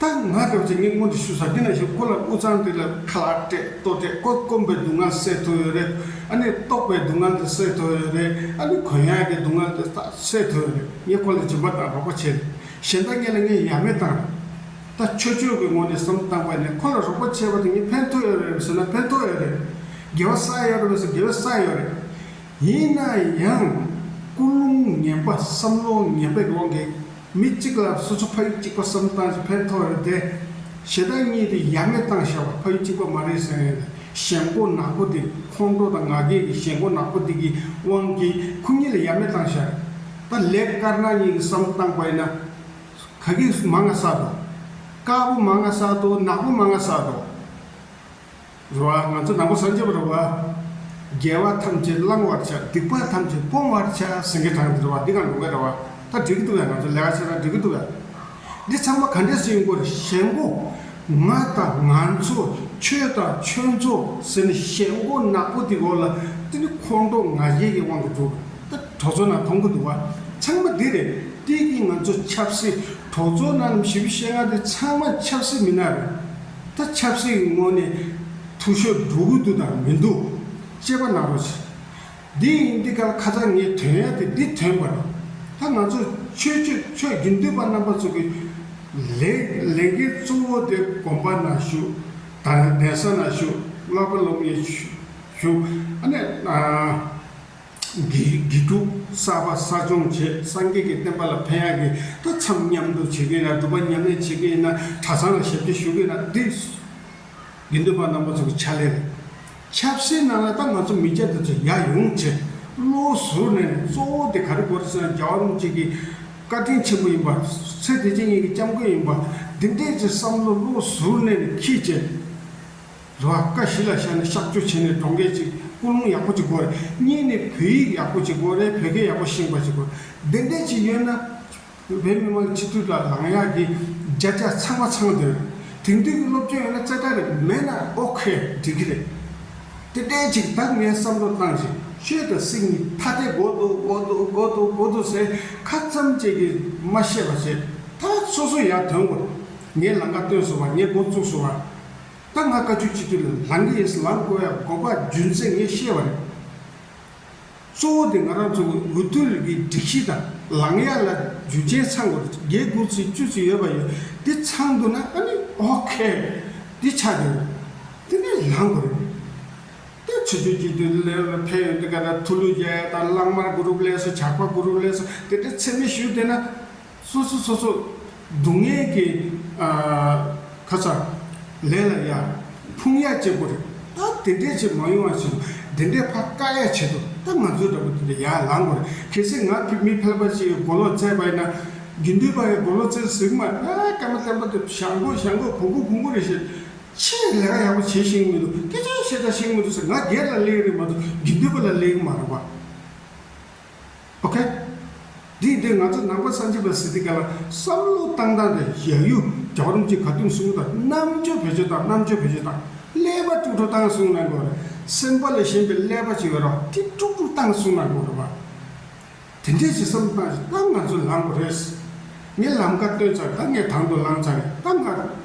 ད་ང་སྐབས་ཀྱི་སྙིང་པོ་འདི་ཞུ་ས་འདི་ན་ཞུ་ཁོ་ལ་དབུ་གཙང་དེ་ལ་ཁ་ལག་སྤྲད་ལྟོ་སྤྲད་བཀོད་སྐོམ་པའི་སྡུག་བསྔལ་སེལ་ཐུབ་ཡོད་རེད་ཨ་ནི་ལྟོགས་པའི་སྡུག་བསྔལ་དེ་སེལ་ཐུབ་ཡོད་རེད་ཨ་ནི་གོན་ཡག་གི་སྡུག་བསྔལ་དེ་ད་སེལ་ཐུབ་ཡོད་རེད་ངས་ཁོ་ལ་སྦྱིན་པ་དང་རོགས་པ་བྱས་རེད་གཞན་དག་གཉིས་ལ་ངས་ཡ་མེད་བཏང་རེད་ད་ཆོས་ཆོས་ཀྱི་ངོ་ནས་བསམ་བཏང་པ་ནས་ཁོ་ལ་རོགས་པ་བྱས་པ་དེ་ངས་ཕན་ཐོགས་ཡོད་རེད་ཟེར་ན་ཕན་ཐོགས་ཡོད་རེད་དགེ་བ་ས་ཡོད་རེད་ཟེར་དགེ་བའི་ས་ཡོད་རེད་ཡིན་ན་ཡང་ཀུན་སློང་ངན་པ་བསམ་བློ་ངན་པའི་དབང་གིས། མི་གཅིག་ལ་སོ་སོ་ཕ་ཡུལ་གཅིག་པ་བསམ་སྟངས་ཀྱི་ཕན་ཐོགས་རེད་དེ། ཞེ་དྲག་གཉིས་དེ་ཡ་མེད་བཏང་བཞག་པ་ཕ་ཡུལ་གཅིག་པ་མ་རེད་ཟེར་ཡོད་ན་ཞེན་མགོ་ནག་པོ་དེ་ཁོང་ཁྲོ་དང་ང་རྒྱལ་གྱི་ཞེན་མགོ་ནག་པོ་དེ་གི་དབང་གིས་ཁོ་གཉིས་ལ་ཡ་མེད་བཏང་བཞག་རེད། ད་ལེགས་དཀར་ནག་གཉིས་ཀྱི་བསམ་སྟངས་པ་ཡིན་ན། ག་གི་མ་ང་ས་དོ། དཀར་པོ་མ་ང་ས་དོ་ནག་པོ་མ་ང་ས་དོ། རུ་བ་ང་ཚོ་ནང་པ་སངས་རྒྱས་པ་རུ་བ། རྒྱལ་བ་ཐམས་ཅད་བསླང་བར་བྱ་སྡིག་པ་ཐམས་ཅད་སྤོང་བར་བྱ་སེང་གེ་བྲང་འདི་རུ་བ་འདི་གང་རུང་གི་རུ་བ་ད་འགྲིག་གི་འདུག་བས་ང་ཚོ་ལས་ཀ་བྱེད་ན་འགྲིག་གི་འདུག་བས། འདི་ཚང་མ་ག་འདྲས་སུ་ཡིན་སྐོར་ཞལ་མགོ། ང་དང་ང་ཚོ་ཁྱོད་དང་ཁྱོད་ཚོ་ཟེར་ནས་ཞལ་མགོ་ནག་པོ་དེ་གོ་ལ་འདི་ནི་ཁོང་ཁྲོ་ང་རྒྱལ་གྱི་དབང་གིས་འདུག་ད་གྲོ་ཚོ་ནང་མཐོང་གི་འདུག་བ་ཚང་མ་འདི་རེད་དེ་གིས་ང་ཚོ་ཆབ་སྲིད་གྲོ་ཚོ་ནང་ནམ་ཞི་བྱེད་ང་འདི་ཚང་མ་ཆབ་སྲིད་མི་སྣ་རེད། ད་ཆབ་སྲིད་ཀྱི་སྔོན་ནས་ཐུགས་ཤོ་སྒྲུག་གི་འདུག་དང་མི་འདུག་དཔྱད་པ་གནང་རོགས་བྱེད། འདི་ཡིན་འདི་སྐད་ཁ་ཚ་ངས་དོན་ཡག་དེ་འདི་དོན་འབར། ད་ང་ཚོ་ཆོས་སྤྱོད་ཆོས་བརྒྱུད་འདུས་པ་རྣམ་པ་ཚོ་གི་ལས་ལས་འགན་གཙོ་བོ་དེ་དགོན་པ་ན་བཞུགས་དང་གདན་ས་ན་བཞུགས་བསླབ་པ་སློབ་གཉེར་བཞུགས་ཨ་ནེ། དགེ་ཕྲུག་གསར་པ་གསར་སྦྱོང་བྱེད་སངས་རྒྱས་ཀྱི་བསྟན་པ་ལ་ཕན་ཡག་གི་ཏུ་འཚམས་མཉམ་དུ་བྱེད་གི་ན་སྒྲུབ་པ་མཉམ་ལས་བྱེད་གི་ཡིན་ན་གྲ་ཚང་ལ་ཞབས་ཕྱི་ཞུ་གི་ན་དེ་དགེ་འདུན་པ་རྣམ་པ་ཚོ་གི་ཕྱག་ལས་རེད་ཆབ་སྲིད་ནང་ལ་ད་ང་ཚོ་མི་སྐྱ་དེ་ཚོ་ཡག་ཡོང་ཆེད་བློ་ཟུར་ནས་གཙོ་བོ་དེ་ག་རེ་དགོས་རེད་ཟེར་ན་རྒྱ་བ་རུམ་གཅིག་གི་བཀའ་དྲིན་ཆེན་པོ་ཡིན་པ་ཚེ་བདེ་ཆེན་གཉིས་ཀྱི་སྐྱབས་མགོན་ཡིན་པ་འདི་འདྲས་ཀྱི་བསམ་བློ་བློ་ཟུར་ནས་ནས་ཁྱི་བྱེད་རེ་བ་དཀའ་བཞི་ལ་ཤར་ནས་གཤག་བཅོས་བྱས་ནས་གྲོང་སྐད་ཅིག་སྐུ་རླུང་ཡག་པོ་ཅིག་གོ་རེ་གཉིས་ནས་བོད་ཡིག་ཡག་པོ་ཅིག་གོ་རེ་བོད་སྐད་ཡག་པོ་ཤེས་པ་ཅིག་གོ་རེ་དེ་འདྲ་ཅིག་ཡོད་ན། བོད་མི་མང་སྤྱི་འཐུས་ལ་ལངས་ཡག་གི་བརྒྱ་ཆ་ཚང་མ་ཚང་དོན། དེང་དུས་ཀྱི་སློབ་སྤྱོད་ཡོད་ན་རྩེ་གྲ་རེ་མེད་ན་ཨོ་ཁེ་འགྲིག་གི་རེད། དེ་འདྲ་ཅིག་ད་ངས་བསམ་བློ་བཏང་བྱས་ཤོད་དང་སྲིད་གཉིས་ཐ་དད་གོ་འདུག་གོ་འདུག་གོ་འདུག་གོ་འདུག་ཟེར་ཁ་ཙམ་བཅད་ཀྱི་མ་བཤད་པ་བྱས་ད་སོ་སོ་ཡར་དོན་གོ། ངས་ལང་ཀ་བཏོན་སོང་བ་ངས་འགོ་བཙུགས་སོང་བ། ད་ང་བཀའ་ཆོས་སྤྱི་འཐུས་ལ་ལངས་ཀྱི་ཡིན་ཟེར་ལངས་དགོས་ཡ་དགོས་པ་རྒྱུ་མཚན་ངས་ཤེས་པ་རེད། གཙོ་བོ་དེ་ང་རང་ཚོ་གི་འོས་བསྡུ་ལས་ཀྱི་སྒྲིག་གཞི་དང་ལངས་ཡ་ལ་རྒྱུ་ཆེན་ཚང་དགོས་རེད་བརྒྱད་དགུ་ཚིག་བཅུ་ཚིག་ཡོད་པ་ཡོད་དེ་ཚང་འདུག་ན་ཨ་ནི་ཨོ་ཁེ། དེ་ཆ་དེ་རེད། དེ་ནས་ལངས་དགོས་རེད། ད་ཆོས་ཆོས་སྤྱི་འཐུས་ལས་ལ་ཕན་ཡོད་དེ་ག་ད་ཐུ་ལུ་རྒྱལ་དང་གླང་དམར་དགུ་རུབ་ལས་སོ་ཇག་པ་དགུ་རུབ་ལས་སོ་དེ་འདྲ་འཚེ་མེད་ཞུས་བསྡད་ན། སོ་སོ་སོ་སོ། སྡུག་བསྔལ་གྱི། ཁ་ཚ། ལས་ལ་ཡ། ཕུང་ཡ་བཅས་པོ་རེད། ད་དེ་འདྲས་ཆེས་མང་ཡོང་བ་བྱེད་དགོས། དེ་འདྲས་ཕ་དཀའ་ཡ་བྱེད་དོ། ད་ང་ཚོའི་འདྲ་པོ་དེ་འདྲས་ཡ་ལང་དགོས་རེད། གལ་སྲིད་ང་ཕིབས་མི་ཕལ་པ་ཞིག་གི་མགོ་ལོག་བཙལ་བ་ཡིན་ན། དགེ་འདུན་པ་ཡི་མགོ་ལོག་བཙལ་ཟིག་མ། ད་སྐར་མ་བསྟན་པ་དེ་ཞང་མགོ་ཞང་མགོ་གོང་མགོ་གོང་མགོ་རེད་བཤད། ཆེས་ལས་ཀ་ཡག་པོ་བྱེད་ཤེས་ཀྱི་མི་འདུག་སྐད་ཆ་ཤེས་དང་ཤེས་མི་འདུག་ཟེར་ང་སྒེར་ལ་གླེང་རེད་མ་གཏོགས་དགེ་འདུན་པ་ལ་གླེང་མ་རུང་བ། ཨོ་ཁེ། དེའི་དོན་ང་ཚོ་ནང་པ་སངས་རྒྱས་པ་སི་ཏི་ཀ་ལ་བསམ་བློ་བཏང་སྟངས་དེ་ཞལ་གཡུ་རྒྱག་རུང་གཅིག་ག་དུང་སུང་དང་རྣམ་དཔྱོད་བེད་སྤྱོད་དང་རྣམ་དཔྱོད་བེད་སྤྱོད་དང་ཀླད་པ་དཀྲུག་དཀྲུག་བཏང་སོང་ན་དགོས་རེད་སེམས་པ་ལས་གཞན་པའི་ཀླད་པ་ཅིག་ཡོད་རོགས་དེ་དཀྲུག་དཀྲུག་བཏང་སོང་ན་དགོས་རེད་བ། དེ་འདྲའི་ཞིག་བསམ་བཏང་ཞིག་གཏམ་ང་ཚོས་ལངས་དགོས་རེད། ངས་ལམ་ཁ་སྟོན་ཚར་ད་ངས་དང་དུ་ལངས་ཚར་རེད་གཏམ་ལངས།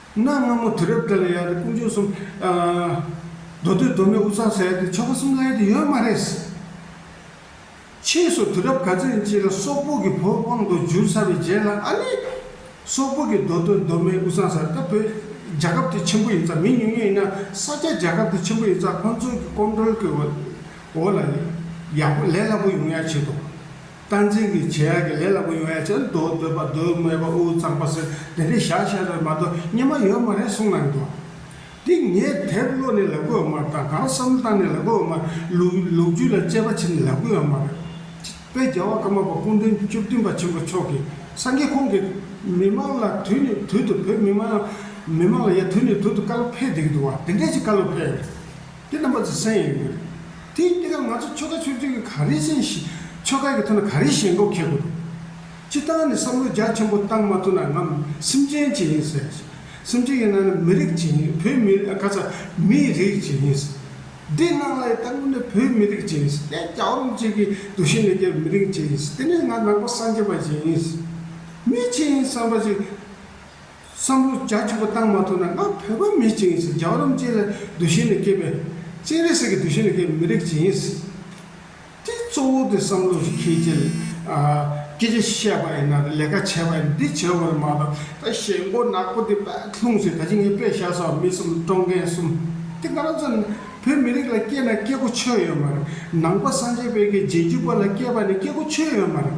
གནའ་སྔ་མོ་དུས་རབས་དེ་ལ་ཡང་དེ་ཀུན་སྤྱོད་གསུམ། མདོ་སྟོད་མདོ་སྨད་དབུ་ཚང་ཟེར་དེ་ཆོ་ག་གསུམ་ལ་ཡང་དེ་ཡོད་མ་རེད། ཕྱིས་སུ་དུས་རབས་ག་ཚོད་ཡིན་ཅིག་ལ་སོག་པོ་གི་བོད་དབང་དུ་འགྱུར་ཚར་བའི་རྗེས་ལ་ཨ་ནི། སོག་པོ་གི་མདོ་སྟོད་མདོ་སྨད་དབུ་ཚང་ཟེར་ད་བོད་རྒྱལ་ཁབ་དེ་ཆེན་པོ་ཡིན་ཙང་མི་ཉུང་ཉུང་ཡིན་ན་ས་སྐྱ་རྒྱལ་ཁབ་དེ་ཆེན་པོ་ཡིན་ཙང་ཁོང་ཚོའི་གི་ཀོམ་གྲོལ་གི་འོ་ལ་ཡག་པོ་ལས་སླ་པོ་ཡོང་ཡ་བྱེད་དོ། བསྟན་འཛིན་གྱི་བྱས་ཡག་གི་ལས་ལ་མགོ་ཡོང་ཡ་ཆེ་ན་འདོད་འདོད་པ་འདོད་སྨྲས་པ་འུ་གཙང་པ་ཟེར་དེ་འདྲས་བཞག་བཞག་རེད་མ་གཏོགས་སྙན་མ་ཡོད་མ་རེད་གསུངས་གནང་འདུག་དེ་ངས་དེབ་བློ་ནས་ལབ་གི་ཡོད་མར་དང་གང་བསམ་བཏང་ནས་ལབ་གི་ཡོད་མར་ལུགས་རྒྱུད་ལ་དཔྱད་པ་བྱེད་ནས་ལབ་གི་ཡོད་མ་རེད། དཔལ་རྒྱལ་བ་ཀརྨ་པ་སྐུ་མགྲོན་བཅུ་བདུན་པ་ཆེན་པོ་མཆོག་གིས་སངས་རྒྱས་ཁོང་གིས་མི་མང་ལ་དུས་ནས་དུས་དུ་བོད་མི་མང་མི་མང་ལ་ཡ་དུས་ནས་དུས་དུ་བཀའ་སློབ་ཕེབས་བསྡད་ཀྱི་འདུག་བ་དེ་འདྲས་ཀྱི་བཀའ་སློབ་ཕེབས། དེ་རྣམ་པ་ཚོ་གསན་ཡོད་དགོས་རེད། དེ་ཡིན་དུས་སྐབས་ང་ཚོ་ཆོལ་ཁ་ཆོས་ཚུལ་གྱི་ག་རེ་བྱེད་བཞིན་ཆོལ་ཁ་གི་ཐོག་ནས་ག་རེ་བྱེད་མགོ་ཁེག་གོ་རུང། སྤྱི་བཏང་ནས་བསམ་བློ་རྒྱ་ཆེན་པོ་བཏང་མ་ཐུབ་ན་ང་སེམས་ཅན་གྱི་ཡིན་ཟེར། སེམས་ཅན་གྱི་ནང་ནས་མི་རིགས་ཀྱི་ཡིན་བོད་མི་རིགས་ཨ་ཁ་ཚ་མིའི་རིགས་ཀྱི་ཡིན་ཟེར། འདི་སྔགས་ལ་ཡི་དྭགས་མིན་ནས་བོད་མི་རིགས་ཀྱི་ཡིན་ཟེར་དེ་རྒྱ་རོམ་ཅིག་གི་དུག་ཤིང་ལས་རྒྱལ་བའི་མི་རིགས་ཀྱི་ཡིན་ཟེར་དེ་ནས་ང་ནག་པོ་སངས་རྒྱས་པ་ཞིག་ཡིན་ཟེར། མི་ཆེན་ཡིན་བསམ་པ་ཞིག། བསམ་བློ་རྒྱ་ཆེན་པོ་བཏང་མ་ཐུབ་ན་ང་བོད་པ་མི་གཅིག་ཡིན་ཟེར་རྒྱ་གོ་རམ་ཅན་ལ་འདུ་ཤེས་ནས་སྐྱེས་པའི། སྤྱན་རས་གཟིགས་ཀྱི་འདུ་ཤེས་ནས་སྐྱེས་པའི་མི་རིགས་གཅིག་ཡིན། དེ་གཙོ་བོ་དེ་བསམ་བློ་ཞིག་ཁྱེད་ཀྱིས་སྐད་ཆ་བཤད་པ་ཡིན་ན་ལས་ཀ་བྱས་པ་ཡིན་འདི་བྱས་འོས་མ་གཏོགས་ད་ཞེད་མགོ་ནག་པོ་དེ་པད་ལྷུང་ཟེར་ད་ཅི་ངས་པད་ཤག་སོགས་མི་གསུམ་བཀྲོངས་མཁན་གསུམ་དེ་ང་རང་ཚོ་བོད་མི་རིགས་ལ་སྐྱེས་ན་སྐྱེ་སྒོ་ཆོད་ཡོད་མ་རེད་ནང་པ་སངས་རྒྱས་དཔལ་གྱི་རྗེས་འཇུག་པ་ལ་སྐྱེས་པ་ནི་སྐྱེ་སྒོ་ཆོད་ཡོད་མ་རེད།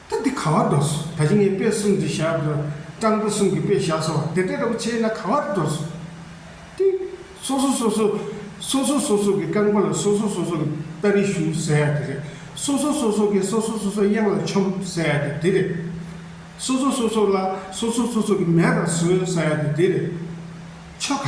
ཐབས་དེ་ག་བར་འགྲོ་སོ། ད་ཅི་ངའི་དཔེ་གསུམ་འདི་བཞག་གོ། སྤྲང་པོ་གསུམ་གྱི་དཔེ་བཞག་སོ། དེ་འདྲ་ལྟ་བུ་ཆེས་ན་ག་བར་འགྲོ་སོ། ཏི། སོ་སོ་སོ་སོ། སོ་སོ་སོ་སོ་གི་རྐང་པ་ལ་སོ་སོ་སོ་སོ་གི་སྟ་རེ་གཞུ་ཟེར་ཡ་དེ་རེད། སོ་སོ་སོ་སོ་གིས་སོ་སོ་སོ་སོའི་གཡང་ལ་ཆོམ་ཟེར་ཡ་དེ་དེ་རེད། སོ་སོ་སོ་སོ་ལ་སོ་སོ་སོ་སོ་གི་མལ་ལ་ཟོས་ཟེར་ཡ་དེ་དེ་རེད། ཆོ་ག།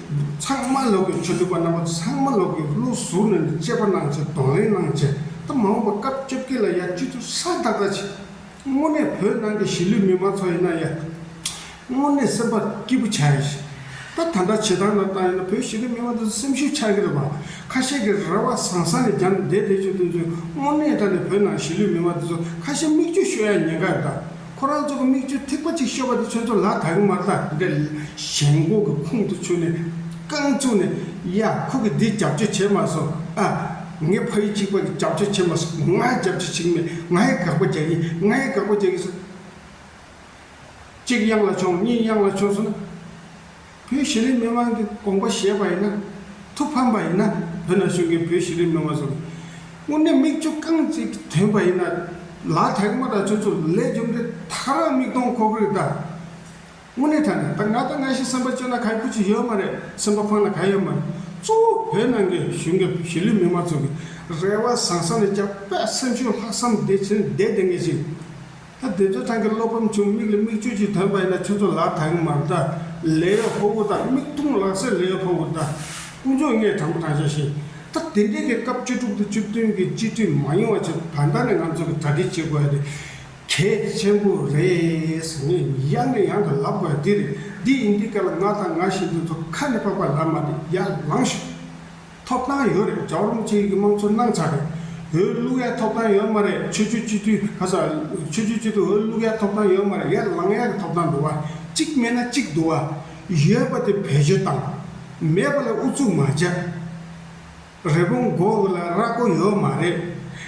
ཚང་མ་ལོག་གི་ཆོས་སྡུད་པ་རྣམ་པ་ཚང་མ་ལོག་གི་བློ་གཟུར་ནས་འདི་དཔྱད་པ་གནང་བྱས་གདོང་ལེན་གནང་བྱས་ད་མ་འོངས་པ་སྐབས་བཅོ་བརྒྱད་ལ་ཡ་སྤྱི་ཚུགས་ས་བདག་ད་བྱས། དངོས་གནས་བོད་ནང་གི་གཞིས་ལུས་མི་མང་ཚོ་ཡིན་ན་ཡ། དངོས་གནས་སེམས་པ་སྐྱིད་པོ་བྱ་ཡ་ཞེ། ད་ད་འདྲ་བྱེད་སྟངས་ལ་བལྟ་ཡོད་ན་བོད་གཞིས་ལུས་མི་མང་ཚོ་སེམས་ཤུགས་ཆག་གི་རེད་བ། ཁ་ཤས་ཀྱི་རེ་བ་བཟང་བཟང་ནས་རྒྱ་ནས་བསྡད་བསྡད་བྱོས་བསྡད་བྱོས་དངོས་གནས་ད་ནས་བོད་ནང་གཞིས་ལུས་མི་མང་དེ་ཚོ་ཁ་ཞེ་མིག་གཅུ་ཤོད་ཡ་ཉེན་ཁ་རེད་ད། ཁོ་རང་ཚོ་གི་མིག་ཆུ་ཐིགས་པ་ཅིག་ཤོར་བ་དེ་ཚོས་ཚོ་ལ་དྭགས་རི་དམར་ཐག་འདྲ་ཡི་ཞེན་ལྐོག་གི་ཁུང་དུ་ཚུད་ནས་རྐང་བཙུགས་ནས། ཡ། ཁོ་གི་འདི་རྒྱབ་སྐྱོར་བྱས་མ་སོང་ཨ། ངའི་ཕ་ཡུལ་གཅིག་པ་གི་རྒྱབ་སྐྱོར་བྱས་མ་སོང་ང་ཡི་རྒྱབ་སྐྱོར་བྱེད་ཀྱི་མེད་ང་ཡི་དགག་པ་རྒྱག་གི་ཡིན་ང་ཡི་དགག་པ་རྒྱག་གི་སོང། གཅིག་གཡང་ལ་མཆོངས་གཉིས་གཡང་ལ་མཆོངས་སོང་ན། བོད་ཤེས་རིག་མི་དམངས་ཀྱི་དགོངས་པ་བཞེས་པ་ཡིན་ན། ཐུགས་ཕམ་པ་ཡིན་ན་བོད་ནང་བཞུགས་མཁན་བོད་ཤེས་རིག་མི་དམངས་ཚོར། དངོས་གནས་མིག་ཆུ་རྐང་གཅིག་དོན་པ་ཡིན་ན། ལག་ཐལ་མོ་དང་ཁྱོད་ཚོ་ལས་རྒྱུ་འབྲས་ཐག་རག་མིག་སྟོང་ཁོག་རིལ་དང། དངོས་གནས་ད་ནས་ད་ང་དང་ང་ཤི་སེམས་པ་སྐྱོ་ན་ག་ཁུ་ཆུ་ཡོད་མ་རེད་སེམས་པ་ཕངས་ན་ག་ཡོད་མ་རེད་གཙོ་བོ་བོད་ནང་གི་བཞུགས་མཁན་བོད་ཤེས་རིག་མི་དམངས་ཚོ་གི་རེ་བ་བཟང་ས་ནས་རྒྱ་དཔེ་སེམས་ཤུགས་ལྷག་བསམ་བདེ་ཆེན་བདེ་ལྡན་ངེས་ཅིག་ད་དེ་ཚོའི་ཐང་གི་བློ་ཕམ་བྱུང་མིག་ལ་མིག་ཆུ་ཞིག་དོན་པ་ཡིན་ན་ཁྱོད་ཚོ་ལག་ད་གིན་མར་ད་ལས་ཡོད་ཧོ་ཧུ་ད་མིག་ཐུང་ལག་སེར་ལས་ཡོད་ཧོ་ཧུ་ད། དཀོན་མཆོག་ངས་དྲང་པོ་དྲང་བཤད་བཤད། ད་དེ་འདྲའི་གི་སྐབས་བཅུ་དྲུག་དང་བཅུ་བདུན་གི་སྤྱི་འཐུས་མ་ཡོང་བ་ཆེད་དུ་ད་ལྟ་ནས་ང་ཚོ་གི་གྲ་སྒྲིག་བྱེད་དགོས་ཡ་དེ་གལ་ཆེན་པོ་རེད། ངས་ཡང་ནས་ཡང་དུ་ལབ་དགོས་ཡ་དེ་རེད་འདི་ཡིན་འདི་ག་ལ་ང་དང་ང་བཞིན་དུ་ཚོ་ཁ་ནས་པགས་པ་ལབ་མ་དེ་ཡར་ལངས་ཤོག། ཐོབ་ཐང་ཡོད་རེད་ཇའོ་རུང་ཅིན་གྱི་དམངས་གཙོ་གནང་ཚར་རེད་འོས་བླུག་ཡ་ཐོབ་ཐང་ཡོད་མ་རེད་ཆོས་རྒྱུད་སྤྱི་འཐུས་ཁ་སང་ཆོས་རྒྱུད་སྤྱི་འཐུས་འོས་བླུག་ཡ་ཐོབ་ཐང་ཡོད་མ་རེད་ཡར་ལངས་ཡ་གི་ཐོབ་ཐང་འདུག་བ་གཅིག་མེད་ན་གཅིག་འདུག་བ་ཡོད་པ་དེ་བེད་སྤྱོད་བཏང་མེད་པ་ལ་ཨུ་ཚུགས་མ་བྱ་རེ་བོང་མགོ་བོ་ལ་ར་གོ་ཡོད་མ་རེད་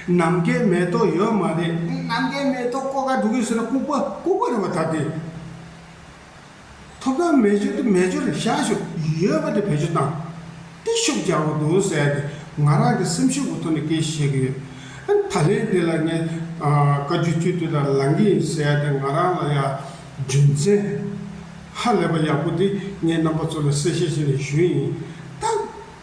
ནམ་མཁའི་མེ་ཏོག་ཡོད་མ་རེད་ནམ་མཁའི་མེ་ཏོག་ཀོ་ཀ་འགྲོ་གི་ཟེར་ན་ལྐུག་པ་ལྐུག་པ་རེད་བ་ད་དེ། ཐོབ་ཐང་མེད་རྒྱུ་དེ་མེད་རྒྱུ་ལ་བཞག་ཤུགས་ཡོད་པ་དེ་བེད་སྤྱོད་བཏང། སྟེ་ཤུགས་རྒྱག་པ་དུང་ཟད་དེ་ང་རང་གི་སེམས་ཤུགས་ཀྱི་ཐོག་ནས་སྐད་བཤད་ཀྱི་ཡོད། ད་ལན་འདི་ལ་ངས་བཀའ་རྒྱུད་སྤྱི་འཐུས་དང་ལངས་ཀྱི་ཡིན་ཟེར་ཏེ་ང་རང་ལ་ཡང་རྒྱུ་མཚན་ཧ་ལས་པ་ཡག་པོ་འདི་ངས་རྣམ་པ་ཚོ་ལ་གསལ་བཤད་བྱས་ནས་ཞུས་ཡིན། ད་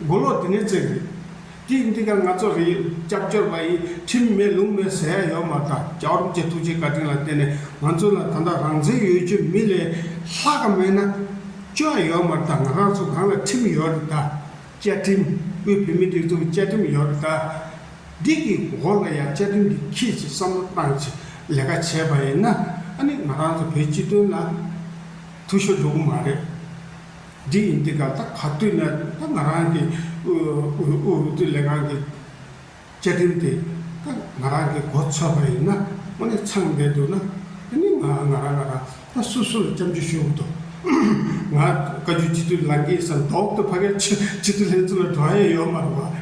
མགོ་ལོག་དེ་ནས་བཙལ་དགོས། ཀྱིས་འདི་ག་ང་ཚོ་རིག་སྐྱབས་བཅོལ་བ་ཡིས་ཁྲིམས་མེད་ལུང་མེད་ཟེར་ཡ་ཡོད་མ་ད་རྒྱ་རོམ་གྱི་ཐུགས་རྗེ་བཀའ་དྲིན་ལ་བརྟེན་ནས་ང་ཚོ་ལ་ད་ལྟ་རང་བཙན་ཡོད་ཀྱི་མི་ལས་ལྷག་ག་མེད་ན། བཅོལ་བ་ཡོད་མ་ད་ང་རང་ཚོ་གང་ལ་ཁྲིམས་ཡོད་རེད་ད། བཅའ་ཁྲིམས་དབུས་བོད་མི་སྒྲིག་འཛུགས་བཅའ་ཁྲིམས་ཡོད་རེད་ད། འདི་གི་འོག་ལ་ཡང་བཅའ་ཁྲིམས་འདི་ཁྱེད་ཀྱིས་བསམ་བློ་བཏང་ཆེད་ལས་ཀ་བྱས་པ་ཡིན་ན་ཨ་ནི་ང་རང་ཚོ་བོད་སྤྱི་དོན་ལ་ཐུགས་ཤོ་འགྲོ་གི་མ་རེད། འདི་ཡིན་འདི་ག་ད་ག་དུས་ན་ད་ང་རང་གི་དབུས་བོད་ལས་ཁང་གི་བཅའ་ཁྲིམས་དེ་ད་ང་རང་གི་མགོ་ཚོས་པ་ཡིན་ན་དངོས་གནས་ཚང་མེད་འདུག་ན་དེ་ནི་ང་ང་རང་ང་རང་ད་སུ་སུ་ལ་བཅའ་འཇུག་ཞུ་འོ་དོ། ང་བཀའ་བརྒྱུད་སྤྱི་འཐུས་ལང་གིན་ས་འདོག་ཏུ་ཕ་གའི་སྤྱི་སྤྱི་འཐུས་ལྷན་ཚོགས་ལ་འགྲོ་ཡས་ཡོད་མ་རུང་བ།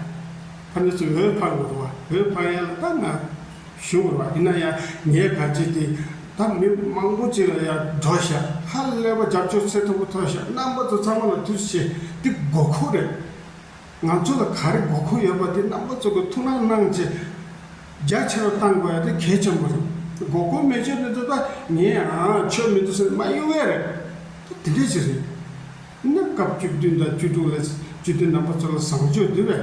ཕ་ནི་སུ་འོས་འཕངས་དགོས་རུང་བ་འོས་འཕངས་ཡས་ལ་ད་ང། ཞུ་དགོས་པ་ཡིན་ན་ཡང་ངས་ག་བྱེད་དེ། ད་མི་མང་པོ་གཅིག་ལ་ཡང་འགྲོ་ཞག་ཧ་ལས་པ་རྒྱབ་སྐྱོར་ཚད་མཐོ་པོ་ཐོབ་ཞག་རྣམ་པ་ཚོ་ཚང་མ་ལ་ཐུགས་རྗེ་ཆེ་འདི་དགོས་མཁོ་རེད། ང་ཚོ་ལ་ག་རེ་དགོས་མཁོ་ཡོད་པ་དེ་རྣམ་པ་ཚོ་གི་ཐུགས་སྣང་གནང་རྗེས་རྒྱ་ཆེ་རུ་གཏང་དགོས་ཡ་དེ་གལ་ཆེན་པོ་རེད། དགོས་མཁོ་མེད་ཆོས་མི་འདུག་ད་ངས་ཡང་ཆོས་མི་འདུག་ཟེར་ནས་མ་གཡོལ་བས་རེད། ད་དེ་འདྲ་ཞིག་རེད། གནས་སྐབས་བཅུ་བདུན་དང་བཅུ་དྲུག་ལས་བཅུ་བདུན་རྣམ་པ་ཚོ་ལ་བཟང་སྤྱོད་འདི་བས།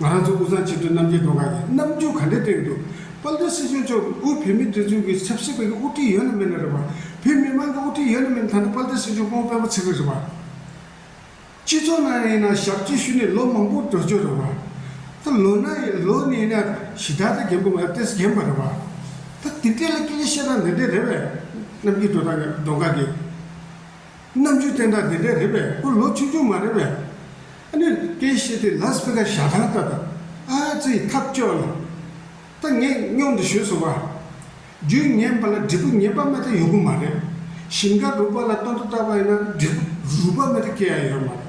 ང་རང་ཚོ་དབུས་གཙང་ཆེ་མཐོའི་རྣམ་རྒྱལ་རྫོང་ཁག་གིས་རྣམ་འགྱུར་ག་འདྲའི་སྟེང་དུ། དཔལ་ལྡན་སྲིད་སྐྱོང་མཆོག་གིས་དབུས་བོད་མིའི་སྒྲིག་འཛུགས་ཀྱི་ཆབ་སྲིད་པས་ཀྱི་དབུ་ཁྲིད་ཡོད་ནི་མེད་ནི་རེད་པ། བོད་མི་དམངས་ཀྱི་དབུ་ཁྲིད་ཡོད་ནི་མེད་ནི་ད་ལྟ་དཔལ་ལྡན་སྲིད་སྐྱོང་ཁོང་དཔོན་པོ་ཚིག་རིག་རེད་པ། སྤྱི་ཚོགས་ནང་ཡིན་ན་ཞབས་སྤྱི་ཞུས་ནས་ལོ་མང་པོ་འགྲོ་ཆོག་རེད་པ། ད་ལོ་ན་ཡིན་ལོ་ནས་ཡིན་ན་གཞི་བདག་ཚོས་རྒན་པོ་ང་ལྟས་སུ་བརྒྱན་པ་རེད་པ། ད་དེ་འདྲས་ལ་སྐད་ཆ་བཤད་སྟངས་འདི་འདྲས་རེད་པས། རྣམ་རྒྱལ་སྒྲོལ་དང་གདོང་དཀར་གྱིས། རྣམ་དཔྱོད་བསྟན་དགྲ་དེ་འདྲས་རེད་པས་ཁོ་ལོ་ཆུང་ཆུང་མ་རེད་པས། ཨ་ནི། ཀའི་བཤད་དེ་ལཱ་སི་བྷི་ཀ་ཞྭ་ཐང་ལྟ་དང། ཨ་ཙི། ཐབས་སྐྱོ་ལ། ད་ངས་སྙོམས་འདི་ཞུས་སོང་བ། རྒྱུས་ངན་པ་ལ་འབྲས་བུ་ངན་པ་མེ་ད་ཡོད་གི་མ་རེད། ཞིང་ཁ་རུབ་པ་ལ་སྟོན་དུ་བཏགས་པ་ཡིན་ན་འབྲས་བུ་རུལ་པ་མེ་ད་སྐྱེ་ཡ་ཡོད་མ་རེད།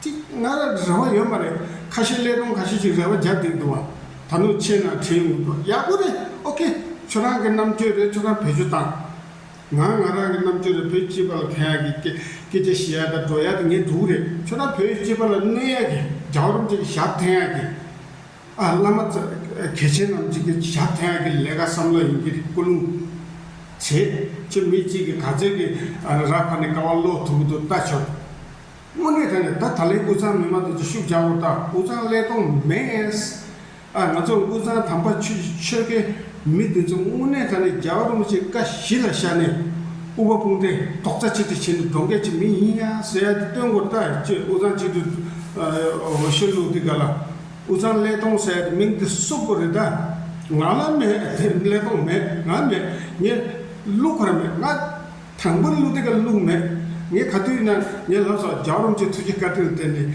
ཅིག་ང་ལ་རེ་བ་ཡོད་མ་རེད་ཁ་ཤས་ཀླད་སྟོང་ག་ཤས་ཅིག་རེ་བ་རྒྱབ་འདེགས་འདུག་བ། ད་ནུ་ཆེ་ན་བྲིས་འོང་འདུག་ཡག་པོ་རེད་ཨོ་ཁེ། ཁྱོད་རང་གི་རྣམ་དཔྱོད་རེད་ཁྱོད་རང་བེད་སྤྱོད་བཏང། ང་ང་རང་གི་རྣམ་དཔྱོད་རེད་བོད་སྤྱི་པ་ལ་ཕན་ཡག་གི་སྐད་སྐད་ཆ་བཤད་ཡག་དང་སྒྲོག་ཡག་དེ་ངའི་སྒྲུང་རེད་ཁྱོད་རང་བོད་སྤྱི་པ་ལ་གནོད་ཡག་གི་རྒྱའོ་རུམ་ཅིག་ཞབས་འཐེན་ཡག་གི་ཨ་བླ་མ་གལ་ཆེན་རྣམས་ཅིག་གི་ཞབས་འཐེན་ཡག་གི་ལས་ཀ་བསམ་བློ་ཡིན་གི་རེད་སྐུ་རླུང་བྱེད་ཁྱོད་མི་གཅིག་གི་ག་ཚོད་ཀྱི་ར་ཕར་ནས་ཀ་བ་སློག་ཐུབ་ཀྱི་འདུག་ལྟ་ཆོག་དངོས་གནས་ད་ནས་ད་ད་ལན་འུ་ཚང་མི་མང་དུ་ཅིག་ཤུགས་རྒྱག་རོགས་ལྟ་འུ་ཚང་ཀླད་སྟོང་མེད། ཨ་ང་ཚོ་དབུས་གཙང་དམ་པ་ཆོས་ཀྱི་ཆོལ་ཁའི་མི་འདི་ཚོ་དངོས་གནས་ད་ནི་རྒྱ་བལ་རོང་ཆེ་ཀ་བཞི་ལ་ཤར་ནས་དབུ་བ་སྤུངས་ཏེ་ཏོག་ཙ་ཆེ་ཏི་བྱེད་ནི་འགྲོ་འགས་ཀྱི་མི་ཡིན་ཡ་ཟེར་ཡ་དེ་སྟོན་དགོས་རྟ་ཅེས་དབུས་གཙང་སྤྱི་འཐུས་འོ་ཤོད་ལུག་འདི་ག་ལ་དབུས་གཙང་ཀླད་སྟོང་ཟེར་ཡ་དེ་མིང་དེ་གསུབ་དགོས་རེད་ད་ང་ལ་མེད་ཀླད་སྟོང་མེད་ང་མེད་ངས་ཀླུ་ཁར་མེད་ང་དང་པོ་ནས་ཀླུ་འདི་ག་ལུག་མེད་ངས་ག་དུས་ན་ངའི་ལག་སོགས་རྒྱ་བལ་རོང་ཆེ་ཐུགས་ཀྱི་བཀའ་དྲིན་བརྟེན་ནས།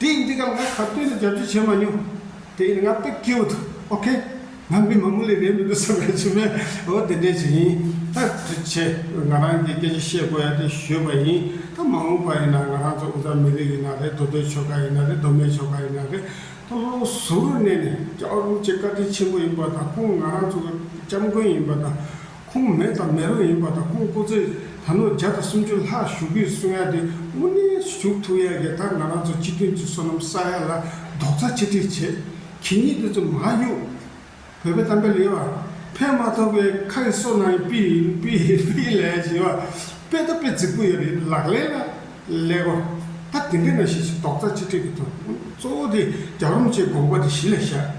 དེ་ཡིན་དུས་ཀྱང་ང་ག་དུས་སུ་རྒྱབ་སྐྱོར་བྱས་མ་མྱོང། དེ་ཡིན་ང་དཔེ་སྐྱེལ་བོ་འདུག་ཨོ་ཁེ། ང་མི་མ་མོ་ལི་རེད་མི་འདུག་བསམ་པའི་ཕྱིར་མས་འོ་དེ་འདྲས་བྱས་ཡིན། ད་དྲི་བྱས། ང་རང་གིས་སྐད་ཆ་བཤད་དགོས་ཡ་དེ་ཞུས་པ་ཡིན། ད་མ་འོངས་པ་ཡིན་ན་ང་རང་ཚོ་འུ་ཚ་མི་རིགས་ཡིན་ན་རེད་དོ་དོའི་ཆོལ་ཁ་ཡིན་ན་རེད་དོ་མའི་ཆོལ་ཁ་ཡིན་ན་རེད་དོ་བློ་གཟུར་གནས་ནས་སྐྱག་རུམ་བཅས་བཀའ་དྲིན་ཆེན་པོ་ཡིན་པ་དང་ཁོང་ང་རང་ཚོ་གི་སྐྱབས་མགོན་ཡིན་པ་དང། ཁོང་མེད་དང་མེད་རུང་ཡིན་པ་དང་ཁོང་སྐུ་ཚེ་ད་ལོ་བརྒྱ་དང་སུམ་ཅུ་ལྷག་བཞུགས་དགོས་གསུང་ཡ་དེ་དབུ་གནས་སུ་བཞུགས་ཐུག་ཡ་རྒྱ་དར་ང་རང་ཚོ་སྤྱི་མཐུན་ཚོས་སོ་ནམ་བསག་ཡ་ལ་རྡོག་རྩ་ཆིག་སྒྲིག་བྱས་གི་གཉིད་དུ་ཙམ་མ་གཡུག། བོད་པའི་གཏམ་དཔེ་ལེ་བ། ཕན་མ་ཐོག་པའི་ཁ་ཡི་སོ་ནང་ཡི་དཔེ་ཡི་དཔེ་ཡི་དཔེ་ཡི་ལས་ཞེས་པ། དཔེ་ལྟ་དཔེ་རྫིག་པོ་ཡོད་རེད་ལག་ལེན་ལ་ལེ་བ། ད་དེ་འདྲས་ན་ཤེས་ཤིག་རྡོག་རྩ་ཆིག་སྒྲིག་གི་དོན་གཙོ་བོ་དེ་རྒྱ་རོམ་ཅེས་དགོངས་པ་དེ་གཞི་ལ་བཞག།